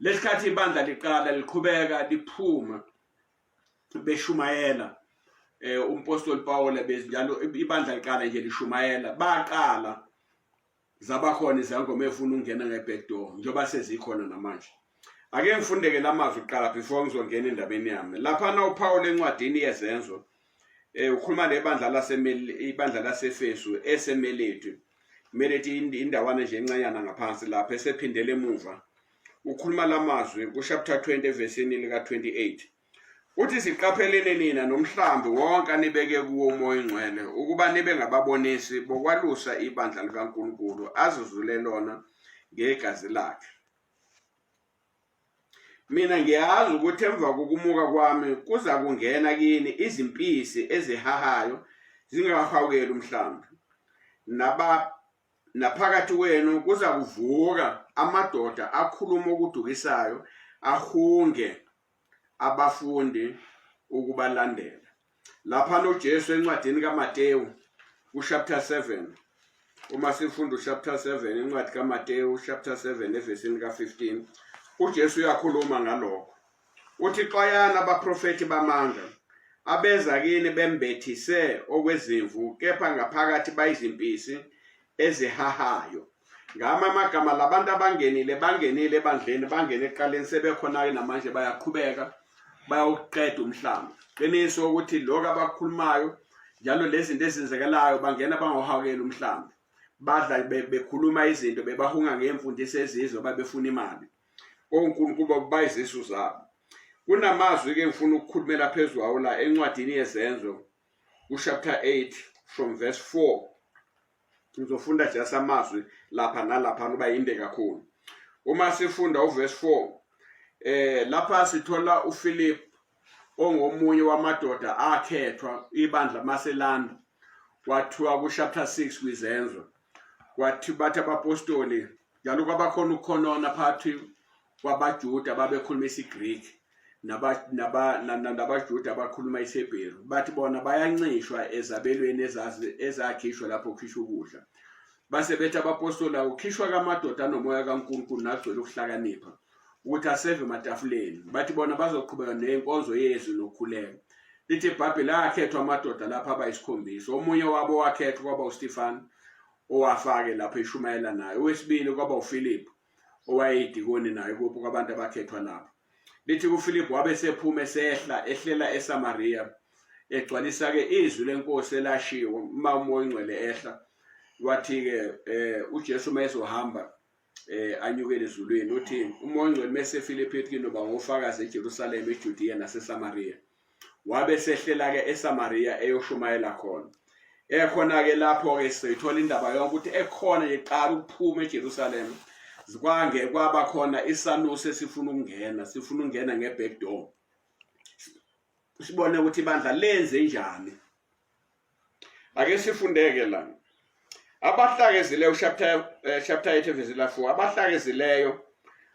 lesikhathi ibandla liqala liqhubeka liphuma beshumayela eh umpostoli Pawula bezinjalo ibandla liqala nje lishumayela baqala zabakhona izangoma efuna ukungena ngeback door njengoba sezikhona namanje ake ngifundeke lamazwi kuqala before ngizongena endabeni yami lapha na uPawula encwadini yezenzo eh ukhuluma nebandla lasemeli ibandla laseFesu eseMeleti Meleti indawana nje encanyana ngaphansi lapha esephindele emuva ukhuluma lamazwi kuchapter 20 evesini lika 28 uthi siqaphelene nina nomhlambi wonke anibeke kuwo umoya ingcwele ukuba nibe ngababonisi bokwalusa ibandla likaNkulunkulu azuzule lona ngegazi lakhe Mina ngiyazi ukuthi emva kokumuka kwami kuza kungena kini izimpisi ezihahayo zingahawukeli umhlambi. Naba naphakathi kwenu kuza kuvuka amadoda akhuluma okudukisayo ahunge abafundi ukubalandela. lapha noJesu encwadini kaMateyu uchapter 7 uma sifunda uchapter 7 incwadi kaMateyu chapter 7 evesini ka15 uJesu uyakhuluma ngalokho uthi xwayana abaprofeti bamanga abeza kini bembethise okwezimvu kepha ngaphakathi bayizimpisi ezihahayo ngama amagama labantu abangenile bangenile ebandleni bangene eqaleni sebekhona-ke namanje bayaqhubeka bayawuqeda umhlaba qiniso ukuthi lokhu abakhulumayo njalo lezi zinto ezenzekelayo bangena bangohawukela umhlaba badla bekhuluma izinto bebahunga ngemfundiso ezizwe babefuna imali onkulunkulu bayizisu zabo kunamazwi-ke ngifuna ukukhulumela phezu kwawo la encwadini yezenzo kuchapter 8 from verse 4 ngizofunda just amazwi lapha nalapha kuba yinde kakhulu uma sifunda uverse 4 eh lapha sithola uPhilip ongomunye wamadoda akhethwa ibandla maselanda kwathiwa kuchapter 6 kwizenzo kwathi bathi abapostoli njalo kwabakhona ukukhonona phakathi kwabaJuda babekhuluma isiGreek nabaJuda abakhuluma isiHebheru bathi bona bayancishwa ezabelweni ezakhishwa lapho kukhishwa ukudla base bethi abapostoli akukhishwa kamadoda anomoya kaNkulunkulu nagcwele ukuhlakanipha ukuthi aseve ematafuleni bathi bona bazoqhubeka nenkonzo yezwi nokhuleko lithi ibhabheli akhethwa amadoda lapho abayisikhombisa omunye wabo wakhethwa kwaba ustefani owafake lapho eshumayela naye owesibili kwaba ufiliphu owayeyidikoni naye kuphi kwabantu abakhethwa lapho lithi kufilipu wabe sephuma esehla ehlela esamariya egcwalisa-ke izwi lenkosi elashiwo uma umoya ongcwele ehla wathi-ke um ujesu uma ezohamba eh anyukele ezulwini uthi umoya ongcwele mesefile ephethini uba ngofakazi eJerusalem eJudiya naseSamaria wabe sehlela-ke esamariya eyoshumayela khona ekhona-ke lapho-ke sithola indaba yonke ukuthi ekhona nje qala ukuphuma ejerusalema kwange kwaba khona isanusi esifuna ukungena sifuna ukungena nge-back door sibone ukuthi ibandla lenze njani ake sifundeke la abahlakezileyo chapter eh, chapter 8 verse 4 abahlakezileyo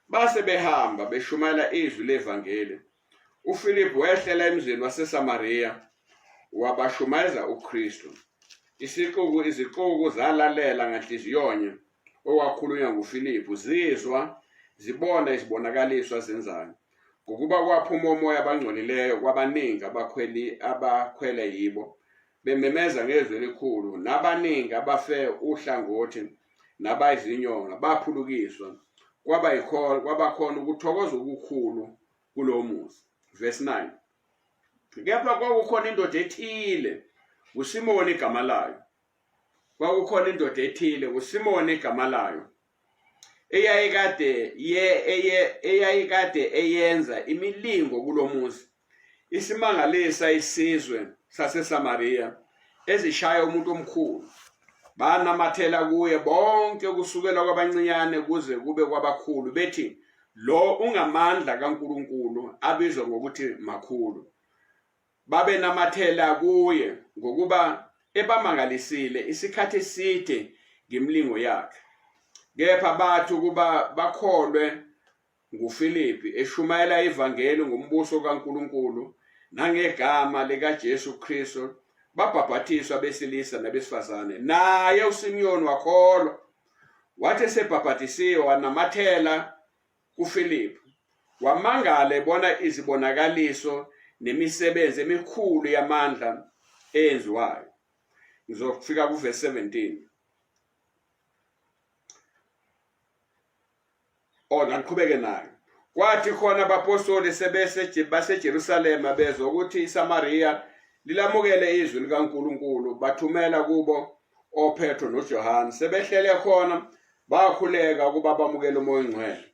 base behamba beshumayela izwi levangeli UFiliphu wehlela emzini waseSamariya wabashumayeza uKristu. Isixuku izixuku zalalela nganhliziyonye okwakhulunywa nguFiliphu zizwa zibona izibonakaliswa zenzayo. Ngokuba kwaphuma umoya abangcolileyo kwabaningi abakhweli abakhwele yibo bememeza ngezwi elikhulu nabaningi abafe uhlangothi nabayizinyonga baphulukiswa kwaba yikhona kwabakhona ukuthokoza okukhulu kulowo muzi verse 9 kepha kwakukhona indoda ethile uSimoni igama layo kwakukhona indoda ethile uSimoni igama layo eyayikade ye eyayikade eyenza imilingo kulomuzi isimangalisa isizwe saseSamariya ezishaya umuntu omkhulu banamathela kuye bonke kusukela kwabancinyane kuze kube kwabakhulu bethi lo ungamandla kaNkuluNkulu abizwa ngokuthi makhulu babe namathela kuye ngokuba ebamangalisile isikhathi eside ngemlingo yakhe kepha bathi ukuba bakholwe NguFilipi eshumayela ivangeli ngombuso kaNkulunkulu nangegama likaJesu Kristu babhabhathiswa abesilisa nabesifazane naye uSimiyoni wakholwa wathi esebhabhathisiwe wanamathela kuFilipi wamangala ebona izibonakaliso nemisebenzi emikhulu yamandla eyenziwayo ngizofika kuvesi 17 ona ngiqhubeke nayo kwathi khona abapostoli sebese baseJerusalema bezwa ukuthi iSamariya lilamukele izwi likaNkuluNkulu bathumela kubo oPetro noJohane sebehlele khona bakhuleka ukuba bamukele umoya ongcwele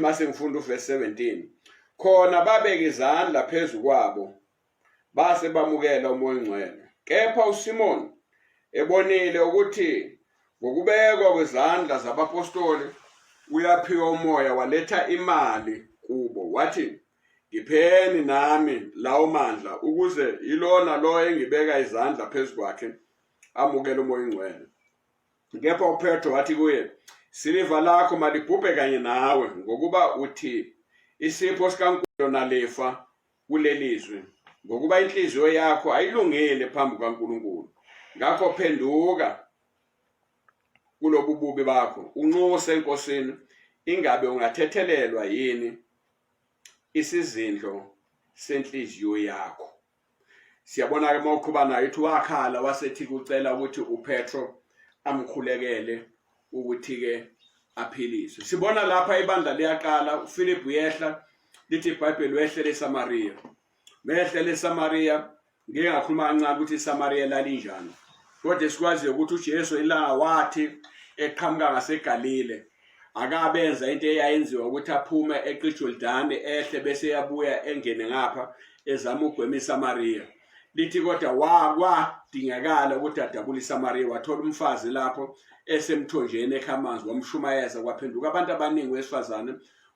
mase ngifunda uverse 17 khona babeka izandla phezu kwabo base bamukela umoya ongcwele kepha uSimon ebonile ukuthi ngokubekwa kwezandla zabapostoli uyaphiwa umoya waletha imali kubo wathi ngipheni nami lawo mandla ukuze yilona lo engibeka izandla phezu kwakhe amukele umoya ongcwele kepha upetro wathi kuye siliva lakho malibhubhe kanye nawe ngokuba uthi isipho sikankulunkulu nalifa kulelizwi ngokuba inhliziyo yakho ayilungile phambi kukaNkulunkulu ngakho phenduka kulobu bubi bakho unxuse enkosini ingabe ungathethelelwa yini isizindlo senhliziyo yakho siyabona ke mawuqhubana yithi wakhala wasethi kucela ukuthi uPetro amkhulekele ukuthi-ke aphiliswe sibona lapha ibandla liyaqala uphilip uyehla lithi ibhayibheli wehle lesamariya mehle lesamariya ngike ngakhuluma kancane ukuthi isamariya lalinjani kodwa esikwaziyo ukuthi ujesu ilanga wathi eqhamuka ngasegalile akabenza into eyayenziwa ukuthi aphume eqijordane ehle bese yabuya engene ngapha ezama ugwema isamariya lithi kodwa wakwadingakala ukuthi adabule isamariya wathola umfazi lapho esemthonjeni ekha amanzi wamshumayeza kwaphenduka abantu abaningi wesifazane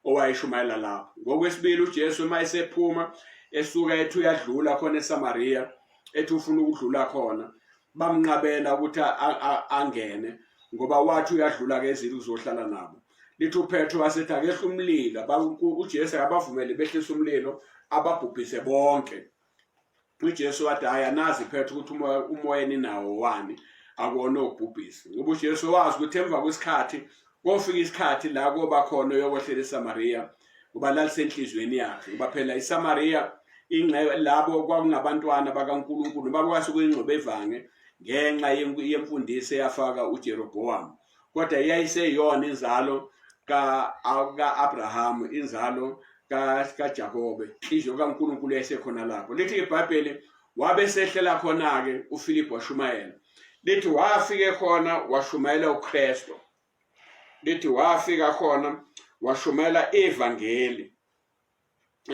owayeshumayela lapho ngokwesibili ujesu uma esephuma esuka ethi uyadlula khona esamariya ethi ufuna ukudlula khona bamnqabela ukuthi angene ngoba wathi uyadlula kezili uzohlala nabo lithi uphetro wasethi akehla umlilo ujesu akabavumele behlisa umlilo ababhubhise bonke uJesu wathi hayi anazi phetha ukuthi umoya umoya ninawo wani akona obhubhisi ngoba uJesu wazi ukuthi emva kwesikhathi kofika isikhathi la koba khona uyokwehlela eSamaria ngoba lalisenhlizweni yakhe ngoba phela iSamaria ingcebo labo kwakungabantwana bakaNkuluNkulu bakwase kuyingxobevange ngenxa yemfundiso eyafaka uJerobowamu kodwa yayiseyona inzalo ka-abrahamu inzalo kajakobe inhliziyo kankulunkulu yayisekhona lapho lithi ibhayibheli wabe sehlela khona-ke ufilipi washumayela lithi wafike khona washumayela ukristu lithi wafika khona washumayela ivangeli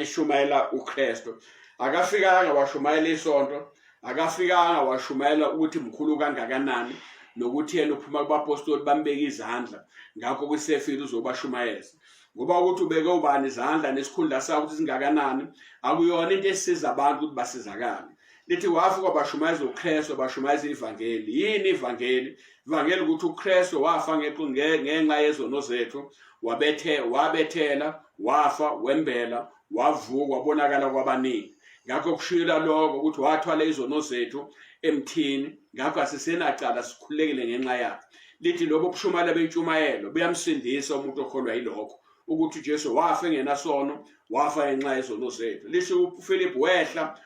eshumayela uKristu akafikanga washumayela isonto akafikanga washumayela ukuthi mkhulu kangakanani nokuthi yena uphuma kubapostoli bambeka izandla ngakho kwisefile uzobashumayeza ngoba ukuthi ubeke ubani izandla nesikhundla sakho ukuthi singakanani akuyona into esiza abantu ukuthi basizakale lithi wafika bashumayeza uKristu bashumayeza ivangeli yini ivangeli Vangeli ukuthi uKristu wafa ngenxa yezono zethu wabethe wabethela wafa wembela wavuka wabonakala kwabaningi ngakho kushila lokho ukuthi wathwala izono zethu emthini ngakho asisenacala sikhulekile ngenxa yakhe lithi lobo bushumayela bentshumayelo buyamsindisa umuntu okholwa yilokho ukuthi uJesu wafa engenasono wafa ngenxa yezono zethu lisho uPhilip wehla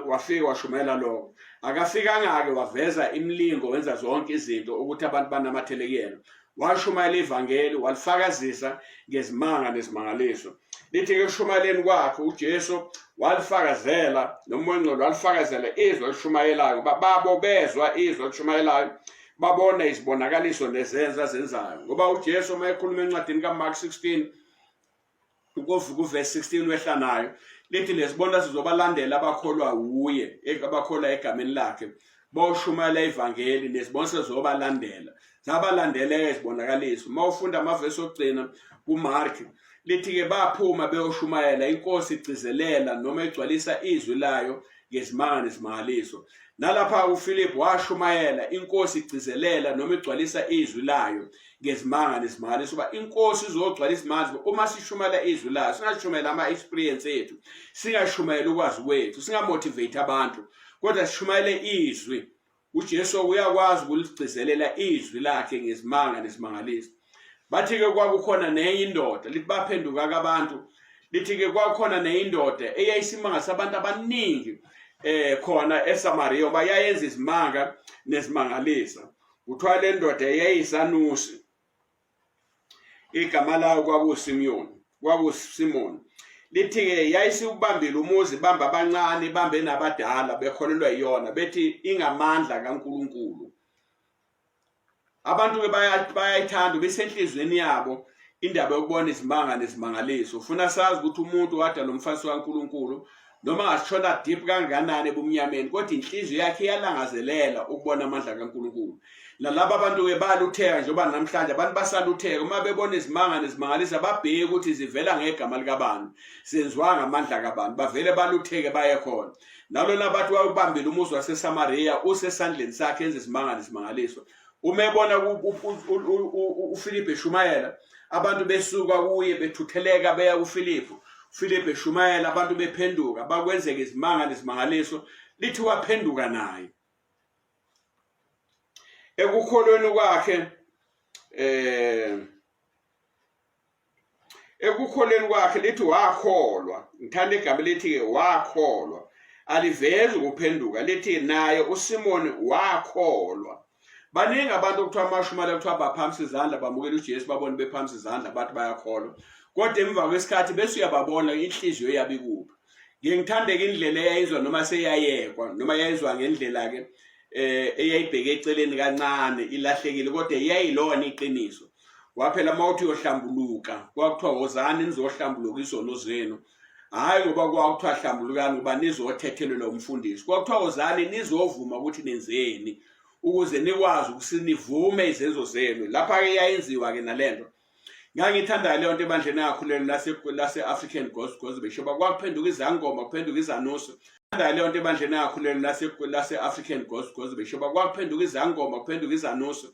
wafika washumela lokho akafikanga-ke waveza imilingo wenza zonke izinto ukuthi abantu banamathele kuyena washumayela ivangeli walifakazisa ngezimanga nezimangaliso lithi-ke ekushumayeleni kwakhe ujesu walifakazela nomoya ongcolo walifakazela izwi olishumayelayo uba babo bezwa izwi olishumayelayo babona izibonakaliso nezenza zenzayo ngoba uJesu uma ekhuluma encwadini kaMark 16 ukovuka uverse 16 wehla nayo lithi lezibona sizobalandela abakholwa wuye abakholwa egameni lakhe bawushumayela ivangeli nezibonise zobalandela zabalandela izibonakaliso uma ufunda amavesi okugcina kuMark Lithi-ke baphuma beyoshumayela inkosi igcizelela noma igcwalisa izwi layo ngezimanga nezimangaliso. Nalapha uFilip washumayela inkosi igcizelela noma igcwalisa izwi layo ngezimanga nezimangaliso uba inkosi izogcwala izimanga uma sishumayela izwi layo singashumayela ama-experience ethu singashumayela ukwazi kwethu singamotivate abantu kodwa sishumayele izwi UJesu uyakwazi ukuligcizelela izwi lakhe ngezimanga nesimangaliso. Bathi-ke kwakukhona nenye indoda, lithi baphenduka-ke abantu, lithi-ke kwakukhona nenye indoda eyayisimanga sabantu abaningi eh khona eSamariya oba yayenza izimanga nezimangalisa. Kuthiwa le ndoda yayisanusi. igama layo kwakusimyoni kwakusimoni lithi-ke yayisiwubambile umuzi bambe abancane bambe nabadala bekholelwa iyona bethi ingamandla kankulunkulu abantu-ke bayayithanda besenhliziyweni yabo indaba yokubona izimanga nezimangaliso ufuna sazi ukuthi umuntu wadala umfasi kankulunkulu noma angashona deep kanganani ebumnyameni kodwa inhliziyo yakhe iyalangazelela ukubona amandla kaNkulunkulu nalaba bantu ke balutheka njengoba namhlanje abantu basalutheka uma bebona izimanga nezimangalisa babheke ukuthi zivela ngegama likabantu senziwa ngamandla kabantu bavele balutheke baye khona nalona bathi wayebambile umuzi waseSamaria usesandleni sakhe enze isimanga nesimangaliso uma ebona uFilipe eshumayela abantu besuka kuye bethutheleka beya kuFilipe uFilipe eshumayela abantu bephenduka bakwenzeka izimanga nezimangaliso lithi waphenduka naye ekukholweni kwakhe eh ekukholeni kwakhe lithi wakholwa ngithanda igama lithi-ke wakholwa alivezi ukuphenduka lithi naye usimoni wakholwa baningi abantu okuthiwa amashumane kuthiwa baphamisa izandla bamukela ujesu babone bephamisa izandla bathi bayakholwa kodwa emva kwesikhathi bese uyababona inhliziyo yabe ikuphi ngiye ngithandeke indlela eyayizwa noma seyayekwa noma yayizwa ngendlela-ke um eyayibheke eceleni kancane ilahlekile kodwa yayilona iqiniso waphela uma uthi uyohlambuluka kwakuthiwa wozani nizohlambuluka izono zenu hhayi ngoba kwakuthiwa hlambulukani ngoba nizothethelelwa umfundisi kwakuthiwa wozani nizovuma ukuthi nenzeni ukuze nikwazi ukuthi nivume izenzo zenu lapha-ke yayenziwa-ke nale nto ngangiyithandayo leyo nto ebandleni angakhulelo lase-african gospel gospel beshoba kwakuphenduka izangoma kuphenduka izanuso Ngithanda leyo nto ebandleni engakhuleni lase lase African Ghost Ghost besho kwakuphenduka izangoma kuphenduka izanuso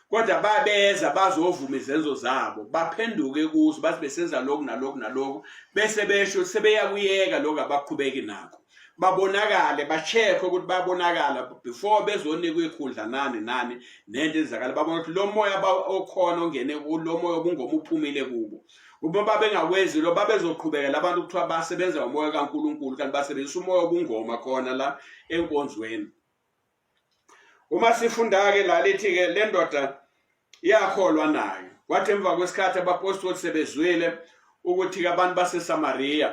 kodwa babeza bazovuma izenzo zabo baphenduke kuzo bathi besenza lokhu nalokhu nalokhu bese besho sebeyakuyeka lokho abaqhubeki nako babonakale ba-check ukuthi bayabonakala before bezonikwa ikhundla nani nani nento enzakala babona ukuthi lo moya okhona ongene kulo moya obungoma uphumile kubo uma babengakwenzi lo babezoqhubekela abantu kuthiwa basebenza ngomoya kaNkuluNkulu kanti basebenzisa umoya obungoma khona la enkonzweni uma sifunda-ke la lithi-ke le ndoda yakholwa nayo kwathi emva kwesikhathi abapostoli sebezwile ukuthi-ke abantu basesamariya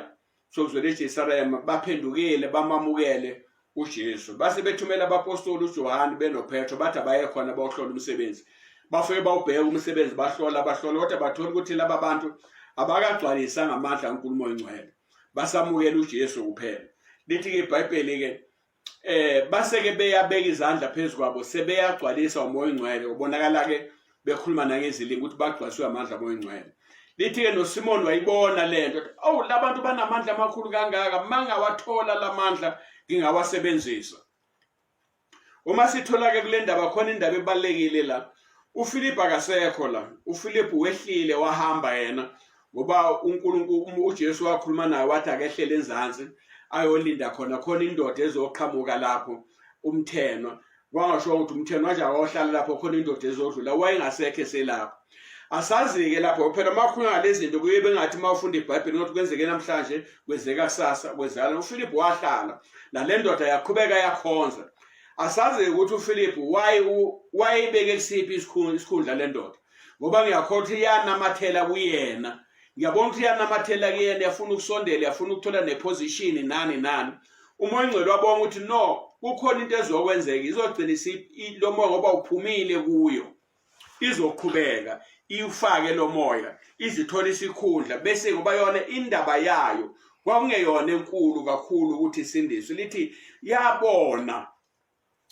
sokuzwela eJesarema baphendukile bamamukele uJesu base bethumela abapostoli uJohane benoPetro bathi abaye khona bayohlola umsebenzi bafike bawubheka umsebenzi bahlola bahlola kodwa bathola ukuthi laba bantu abakagcwalisa ngamandla kaNkulumo oyingcwele basamukela uJesu kuphela lithi ke iBhayibheli ke eh baseke beyabeka izandla phezu kwabo sebeyagcwalisa umoya ongcwele ubonakala ke bekhuluma nangezilingo ukuthi bagcwaliswe amandla omoya ongcwele lithi-ke nosimoni wayibona le nto owu la bantu banamandla amakhulu kangaka mangawathola la mandla ngingawasebenzisa uma sithola-ke kule ndaba khona indaba ebalulekile la ufilipu akasekho la ufilipu wehlile wahamba yena ngoba uNkulunkulu uJesu wakhuluma naye wathi akehlele enzansi ayolinda khona khona indoda ezoqhamuka lapho umthenwa wangasho ukuthi umthenwa nje awohlala lapho khona indoda ezodlula wayengasekho eselapho asazi-ke lapho phela uma ukhuluma ngalezi zinto kuye bengathi uma ufunda ibhayibheli ukuthi kwenzeke namhlanje kwenzeka kusasa kwenzekala ufilipu wahlala nale ndoda yaqhubeka yakhonza asazi-ke ukuthi ufilipu wayeyibeke kusiphi isikhundla le ndoda ngoba ngiyakhohlwa ukuthi iyanamathela kuyena ngiyabona ukuthi iyanamathela kuyena yafuna ukusondela yafuna ukuthola neposition nani nani umoya ongcwele wabonga ukuthi no kukhona into ezokwenzeka izogcina lo moya ngoba uphumile kuyo izoqhubeka iwufake lo moya izithola isikhundla bese ngoba yona indaba yayo kwakungeyona enkulu kakhulu ukuthi isindiswe lithi yabona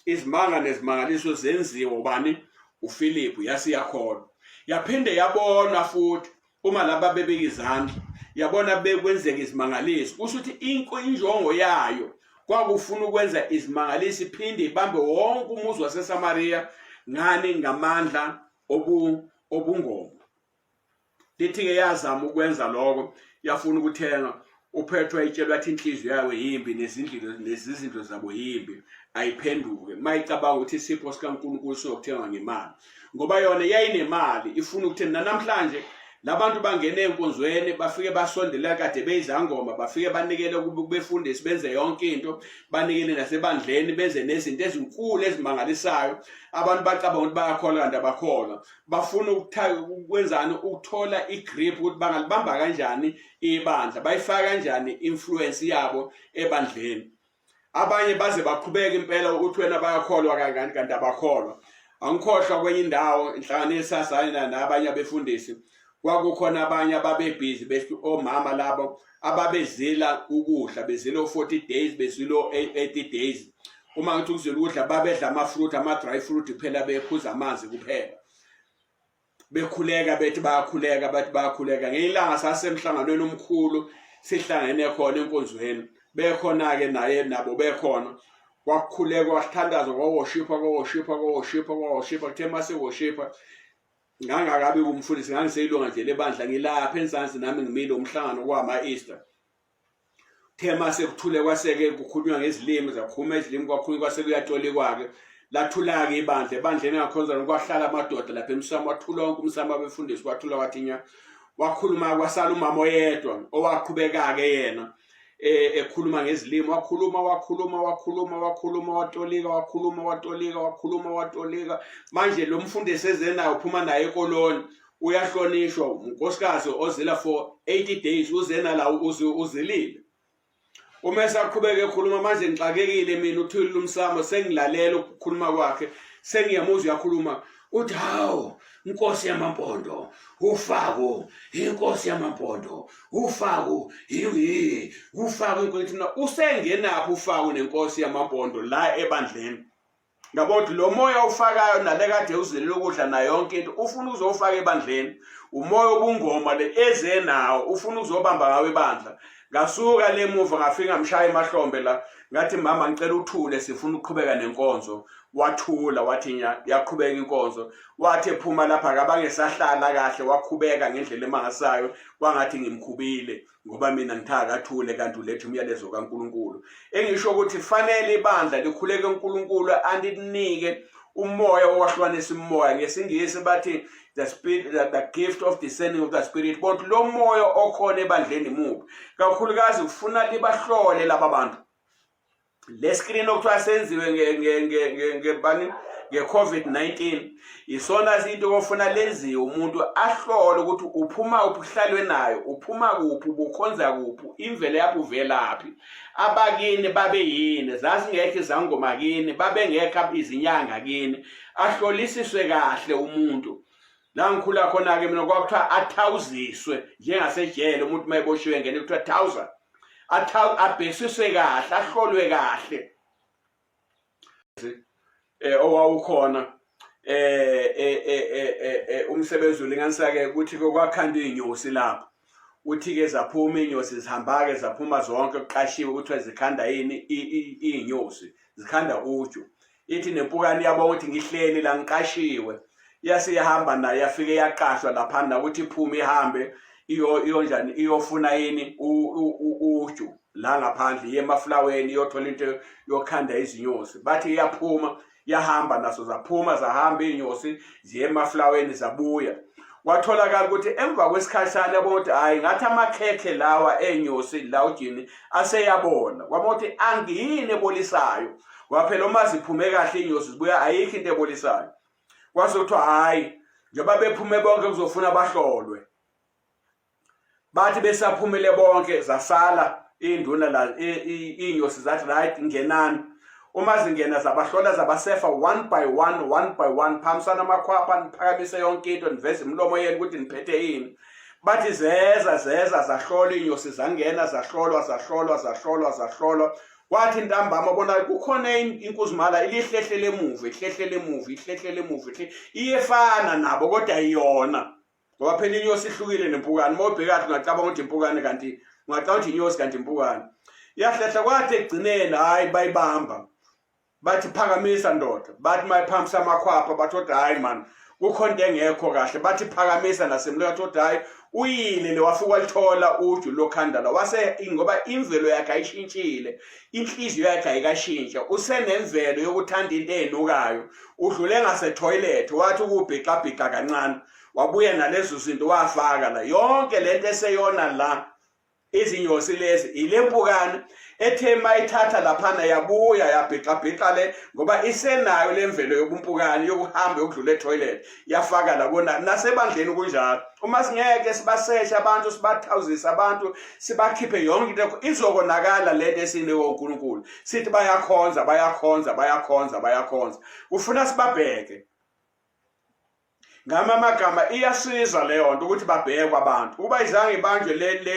izimanga nezimangaliso zenziwa ubani uFilipu yase yakhona yaphinde yabona futhi uma laba bebeka izandla yabona bekwenzeka izimangaliso kusho ukuthi inko injongo yayo kwakufuna ukwenza izimangaliso iphinde ibambe wonke umuzi waseSamariya ngani ngamandla obu obungoma lithi-ke yazama ukwenza lokho yafuna ukuthenga uphethwa itshelwa athi inhliziyo yayo yimbi nezindlilo nezizindlo zabo yimbi ayiphenduke mayicabanga ukuthi isipho sikaNkulunkulu sokuthengwa ngemali ngoba yona yayinemali ifuna ukuthi namhlanje labantu bangene enkonzweni bafike basondela kade beyizangoma bafike banikele kubefundisi benze yonke into banikele nasebandleni benze nezinto ezinkulu ezimangalisayo abantu bacabanga ukuthi bayakholwa kanti abakholwa bafuna ukwenzani ukuthola igrip ukuthi bangalibamba kanjani ibandla bayifaka kanjani influence yabo ebandleni abanye baze baqhubeke impela ukuthi wena bayakholwa kangani kanti abakholwa angikhohlwa kwenye indawo inhlangano yesazane nabanye abefundisi kwakukhona abanye ababebhizi bethi omama labo ababezila ukudla bezila o-40 days bezila o-80 days uma ngithi ukuzila ukudla babedla ama-fruit ama-dry fruit kuphela bephuza amanzi kuphela bekhuleka bethi bayakhuleka bathi bayakhuleka ngelinye ilanga sasemhlanganweni omkhulu sihlangene khona enkonzweni bekhona-ke naye nabo bekhona kwakukhulekwa kwasithandazwa kwawoshipha kwawoshipha kwawoshipha kwawoshipha kuthe uma sewoshipha ngangakabi kumfundisi ngangiseyilunga nje lebandla ngilapha enzansi nami ngimile umhlangano kwama-easter thema sekuthule kwaseke kukhulunywa ngezilimi zakhuma izilimi kwakhulunywa kwase kuyatolikwa-ke lathula-ke ibandla ebandleni engakhonza kwahlala amadoda lapha emsamo wathula wonke umsamo abefundisi wathula wathinya wakhuluma kwasala umama oyedwa owaqhubeka-ke yena eh, ekhuluma ngezilimi wakhuluma wakhuluma wakhuluma wakhuluma watolika wakhuluma watolika wakhuluma watolika manje lo mfundi esezenayo uphuma naye ekoloni uyahlonishwa unkosikazi ozila for 80 days uzena la uzilile uma esaqhubeka ekhuluma manje ngixakekile mina uthulile umsamo sengilalela ukukhuluma kwakhe sengiyamuzwa uyakhuluma uthi hawu inkosi yamampondo ufaku inkosi yamampondo ufaku yiyi ufaku inkosi na usengenaphi ufaku nenkosi yamampondo la ebandleni ngabo ukuthi lo moya ofakayo nale kade uzele lokudla nayo yonke into ufuna uzofaka ebandleni umoya obungoma le eze nawo ufuna uzobamba ngawo ebandla ngasuka lemuva ngafika mshaya emahlombe la ngathi mama ngicela uthule sifuna ukuqhubeka nenkonzo wathula wathi nya yaqhubeka inkonzo wathi ephuma lapha akabangesahlala kahle wakhubeka ngendlela emangasayo kwangathi ngimkhubile ngoba mina ngithaka athule kanti ulethe umyalezo kaNkuluNkulu engisho ukuthi fanele ibandla likhuleke uNkuluNkulu andinike umoya owahlukanisa umoya ngesingisi bathi the spirit the, the gift of discerning of the spirit but lo moya okhona ebandleni mubi kakhulukazi kufuna libahlole laba bantu le screen okuthiwa senziwe ngebani nge-covid-19 isona sinto kofuna lenziwe umuntu ahlole ukuthi uphuma kuphi uhlalwe nayo uphuma kuphi ubukhonza kuphi imvelo yakho uvelaphi abakini babe yini zazingekho izangoma kini babengekho izinyanga kini ahlolisiswe kahle umuntu la ngikhula khona-ke mina kwakuthiwa athawuziswe njengasejele umuntu uma eboshiwe ngene kuthiwa thawuza abhekisiswe kahle ahlolwe kahle eh owawukhona eh, eh, eh, eh umsebenzi ulinganisake ukuthi kwakhandwa inyosi lapho uthi ke zaphuma inyosi zihamba ke zaphuma zonke kuqashiwe ukuthi zikhanda yini inyosi zikhanda uju ithi nempukane yabo ukuthi ngihleli la ngiqashiwe yase yahamba naye yafike yaqashwa laphana ukuthi iphume ihambe iyonjani iyofuna yini uju la ngaphandle iye emafulaweni iyothola into yokhanda izinyosi bathi iyaphuma yahamba naso zaphuma zahamba iy'nyosi ziye emafulaweni zabuya kwatholakala ukuthi emva kwesikhashana yabona ukuthi hhayi ngathi amakhekhe lawa enyosi la ujini aseyabona kwabona ukuthi angiyini ebolisayo ngoba phela uma ziphume kahle inyosi zibuya ayikho into ebolisayo kwase kuthiwa hhayi njengoba bephume bonke kuzofuna bahlolwe bathi besaphumile bonke zasala induna la inyosi zathi right ngenani uma zingena zabahlola zabasefa one by one one by one phambisana amakhwapha niphakamise yonke into niveze imilomo yenu ukuthi niphethe yini bathi zeza zeza zahlola inyosi zangena zahlolwa zahlolwa zahlolwa zahlolwa kwathi ntambama bona kukhona inkuzimala ilihlehlele emuva ihlehlele emuva ihlehlele emuva iyefana nabo kodwa iyona ngoba phela inyosi ihlukile nempukane uma ubhekathi ungacabanga ukuthi impukane kanti ungacabanga ukuthi inyosi kanti impukane yahlehla kwathi ekugcineni hhayi bayibamba bathi phakamisa ndoda bathi mayiphakamisa amakhwapha bathi kodwa hhayi mani kukhona into engekho kahle bathi phakamisa nasemlo yathi kodwa hhayi uyile le wafika walithola uju lokhandala wase ngoba imvelo yakhe ayishintshile inhliziyo yakhe ayikashintsha usenemvelo yokuthanda into enukayo udlule ngasetoilet wathi ukubhixabhixa kancane wabuya nalezo zinto wafaka la yonke lento eseyona la izinyosi lezi ile mpukane ethe mayithatha laphana yabuya yabhixabhixa le ngoba isenayo le mvelo yobumpukane yokuhamba yokudlula etoilet yafaka labona nasebandleni kunjalo uma singeke sibaseshe abantu sibathawuzise abantu sibakhiphe yonke into izokonakala le nto esiniwe unkulunkulu sithi bayakhonza bayakhonza bayakhonza bayakhonza ufuna sibabheke ngama amagama iyasiza leyo nto ukuthi babhekwe abantu uba izange ibanjwe le le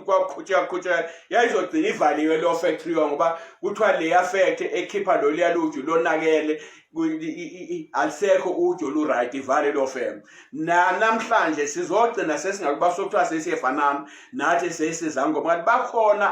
kwaqhutsheka qhutsheka yayizogcina ivaliwe leyo factory ngoba kuthiwa leya factory ekhipha loliya luju lonakele alisekho uju olu-right ivale leyo fem nanamhlanje sizogcina sesingakubasa okuthiwa sesiyefanana nathi sesiza ngoba kanti bakhona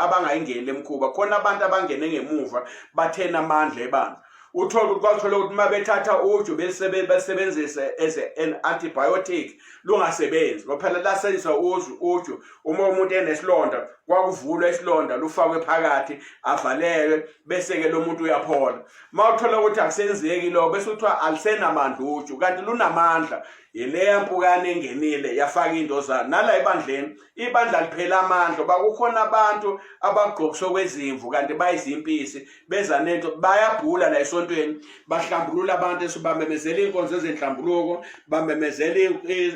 abangayingeni le mkhuba khona abantu abangene ngemuva bathena amandla ebandla uthole ukuthi kwathola ukuthi uma bethatha uju belisebenzise as an antibiotic lungasebenzi ngophela lasebenzisa uju uju uma umuntu enesilonda kwakuvulwa isilonda lufakwe phakathi avalelwe bese-ke lo muntu uyaphola uma uthola ukuthi akusenzeki lokho bese kuthiwa alisenamandla uju kanti lunamandla yileya mpukane engenile yafaka indozana nala ebandleni ibandla liphela amandla uba kukhona abantu abagqokiswe kwezimvu kanti bayizimpisi beza nento bayabhula la esontweni bahlambulula abantu esibamemezela inkonzo ezenhlambuluko bamemezela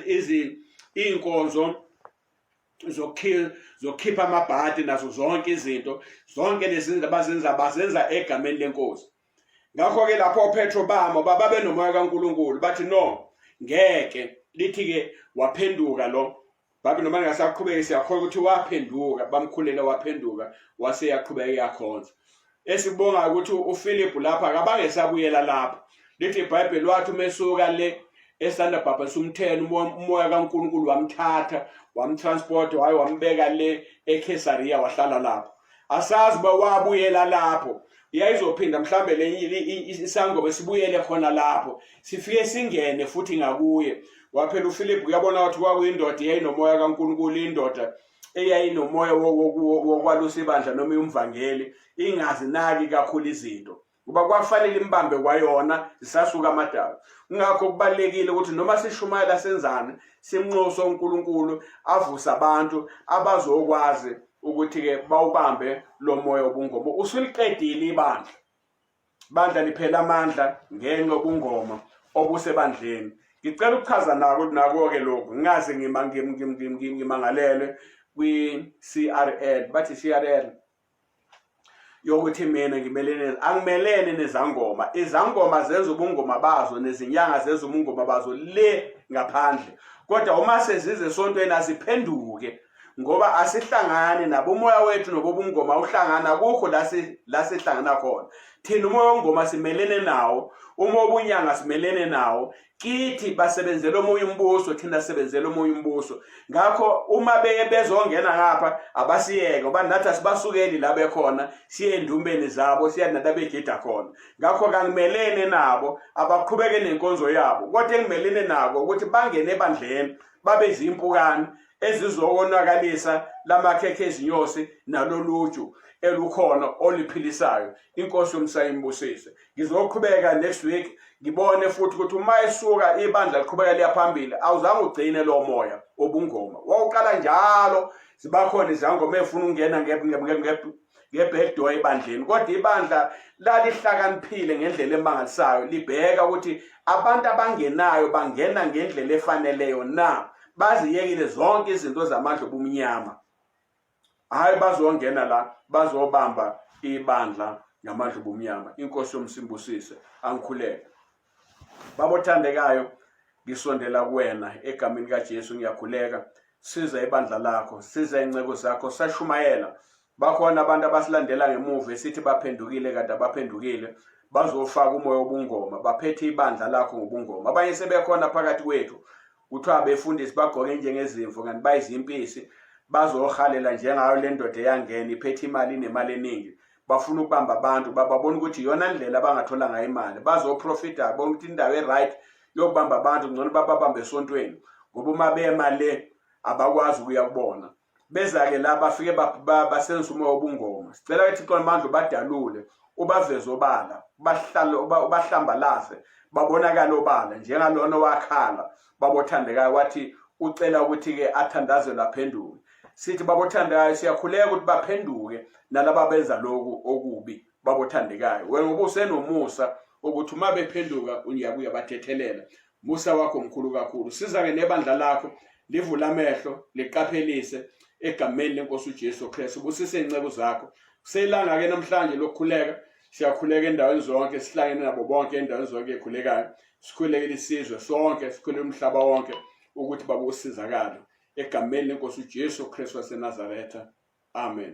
izi inkonzo zokhipha amabhadi nazo zonke izinto zonke lezi zinto abazenza bazenza egameni lenkosi ngakho ke lapho oPetro bamo baba benomoya kaNkuluNkulu bathi no ngeke lithi ke waphenduka lo Babi noma ngasaqhubeka siyakholwa ukuthi waphenduka bamkhulele waphenduka wase yaqhubeka iyakhonza. Esibonga ukuthi uPhilip lapha akabange sabuyela lapha. Lithi iBhayibheli wathi umesuka le esanda bhabhasa umthelo umoya kaNkulunkulu wamthatha wamtransport waye wambeka le eKesariya wahlala lapho. Asazi uba wabuyela lapho yayizophinda mhlambe le isangoma sibuyele khona lapho sifike singene futhi ngakuye waphela uFilip uyabona wathi kwakuyindoda eyayinomoya kaNkulunkulu indoda eyayinomoya wokwalusa ibandla noma umvangeli ingazinaki kakhulu izinto kuba kwafanele imbambe kwayona zisasuka amadala kungakho kubalekile ukuthi noma sishumayela senzane simnxoso uNkulunkulu avuse abantu abazokwazi ukuthi-ke bawubambe lo moya wobungoma usuliqedile ibandla bandla liphela amandla ngenxa yobungoma obusebandleni ngicela ukuchaza nako nako-ke lokhu ngingaze ngimangalelwe kwi-crl bathi i-crl yokuthi mina ngimelene angimelene nezangoma izangoma zenza ubungoma bazo nezinyanga zenza ubungoma bazo le ngaphandle kodwa uma sezize esontweni asiphenduke ngoba asihlangani nabo umoya wethu nobobungoma uhlangana kukho la sihlangana khona thina umoya wengoma simelene nawo uma obunyanga simelene nawo kithi basebenzela omunye umbuso thina sebenzela omunye umbuso ngakho uma beye bezongena ngapha abasiyeke uba nathi asibasukeli la bekhona siye endumbeni zabo siya nathi abegida khona ngakho kangimelene nabo abaqhubeke nenkonzo yabo kodwa engimelene nako ukuthi bangene ebandleni babe zimpukane ezizokonakalisa lamakhekhe ezinyosi naloluju elukhona oliphilisayo inkosi yomsayimbusise ngizoqhubeka next week ngibone futhi ukuthi uma esuka ibandla liqhubeka liya phambili awuzange ugcine lowo moya obungoma wawuqala njalo zibakhona izangoma efuna ukungena ngebhekdoor ebandleni kodwa ibandla lalihlakaniphile ngendlela emangalisayo libheka ukuthi abantu abangenayo bangena ngendlela efaneleyo na baziyekile zonke izinto zamandla obumnyama hayi bazongena la bazobamba ibandla ngamadlubu omnyama inkosi yomsimbusise angikhuleke babothandekayo ngisondela kuwena egameni kaJesu ngiyakhuleka siza ibandla lakho siza inceku zakho sashumayela bakhona abantu abasilandela ngemuva esithi baphendukile kanti abaphendukile bazofaka umoya wobungoma baphethe ibandla lakho ngobungoma abanye sebekhona phakathi kwethu kuthiwa abefundisi bagqoke njengezimvu kanti bayizimpisi bazohalela njengayo le ndoda eyangena iphethe imali inemali eningi bafuna ukubamba abantu bababona ukuthi iyona ndlela abangathola ngayo imali bazoprofita bona ukuthi indawo e-right yokubamba abantu ngcono bababambe esontweni ngoba uma bema le abakwazi ukuya kubona beza-ke la bafike basenzisa umoya wobungoma sicela ke thixo namandla ubadalule ubaveze obala bahlale ubahlambalaze babonakale obala njengalona owakhala babothandekayo wathi ucela ukuthi-ke athandazelwe aphenduke sithi babothandekayo siyakhuleka ukuthi baphenduke nalaba benza loku okubi babothandekayo wena ngoba usenomusa ukuthi uma bephenduka uyabuya bathethelela musa wakho mkhulu kakhulu siza-ke nebandla lakho livule amehlo liqaphelise egameni lenkosi ujesu kristu busise iy'nceku zakho kuselanga-ke namhlanje lokukhuleka siyakhuleka endaweni zonke sihlangene nabo bonke endaweni zonke ekhulekayo sikhulekele isizwe sonke sikhulele umhlaba wonke ukuthi baba usizakalo egameni lenkosi ujesu kristu wasenazaretha amen